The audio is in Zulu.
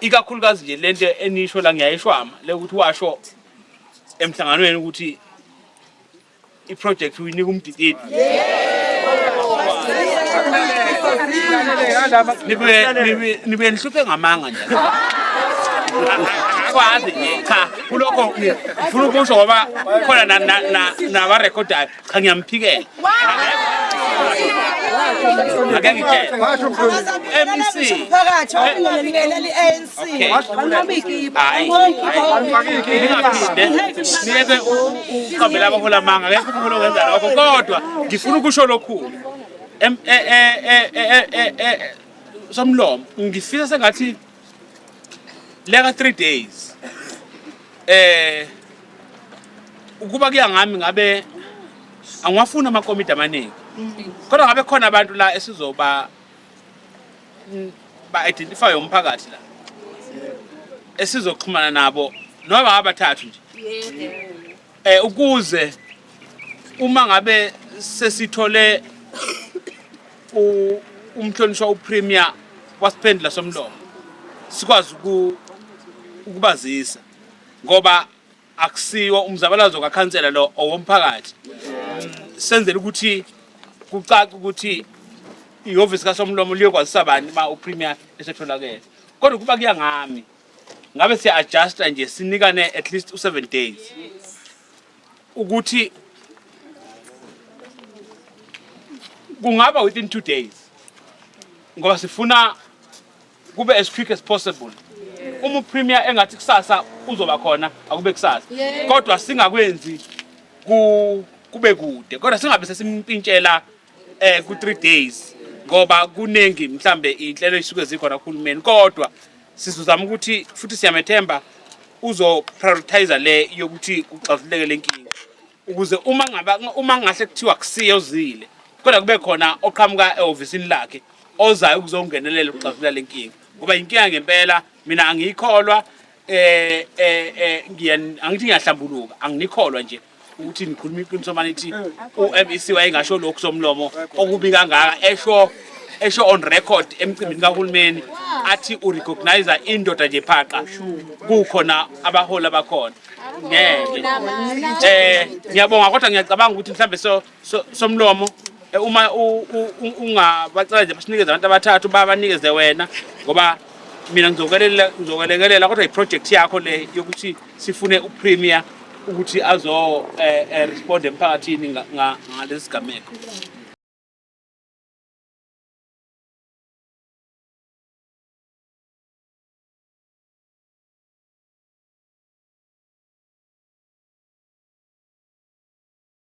ikakhulukazi nje lento enisho la ngiyayishwama le ukuthi washo emhlanganweni ukuthi iproject uyinika umdididi nibuye nihluphe ngamanga nje akwazi nje cha kulokho ngifuna ukusho ngoba khona nabarekhodayo cha ngiyamphikela ake ngitshele MEC phakathi okungelingeleli ANC niyeke uqambela abahola amanga akekho umholi okwenza lokho kodwa ngifuna ukusho lokhulu somlomo ngifisa sengathi leka 3 days eh ukuba kuya ngami ngabe angiwafuni amakomidi amaningi kodwa ngabe khona abantu la esizoba mm, ba identify umphakathi la esizoxhumana nabo noma abathathu nje eh ukuze uma ngabe sesithole umhlonishwa upremier wasiphendula somlomo sikwazi ukubazisa ngoba akusiwo umzabalazo kakhansela lo owomphakathi senzele ukuthi kucace ukuthi ihhovisi kasomlomo liyokwazisa bani uma upremier esetholakele kodwa kuba kuya ngami ngabe siya adjusta nje sinikane at least u7 days ukuthi kungaba within 2 days ngoba sifuna kube as quick as possible uma upremier engathi kusasa uzoba khona akube kusasa kodwa singakwenzi ku kube kude kodwa singabe sesimpintshela eh ku 3 days ngoba kuningi mhlambe inhlelo isuke zikhona kuhulumeni kodwa Sizozama ukuthi futhi siyamethemba uzoprioritize le yokuthi kuxazuleke le nkinga ukuze uma ngaba uma ngahle kuthiwa kusiye uzile kodwa kube khona oqhamuka ehhovisini lakhe ozayo ukuzongenelela ukuxazulula le nkinga ngoba yinkinga ngempela mina angiyikholwa eh eh, eh angithi ngiyahlambuluka anginikholwa nje ukuthi nikhuluma iqiniso manje ithi uMEC wayengasho lokhu somlomo okubi kangaka esho esho on record emcimbini kahulumeni athi urecognize indoda nje phaqa kukhona abaholi abakhona ngeke eh ngiyabonga kodwa ngiyacabanga ukuthi mhlambe so somlomo eh, uma ungabacela nje basinikeze abantu abathathu babanikeze wena ngoba mina ngizokwelekelela ngizokwelekelela kodwa iproject yakho le yokuthi sifune upremier ukuthi azo eh, eh, respond emphakathini ngalesi gameko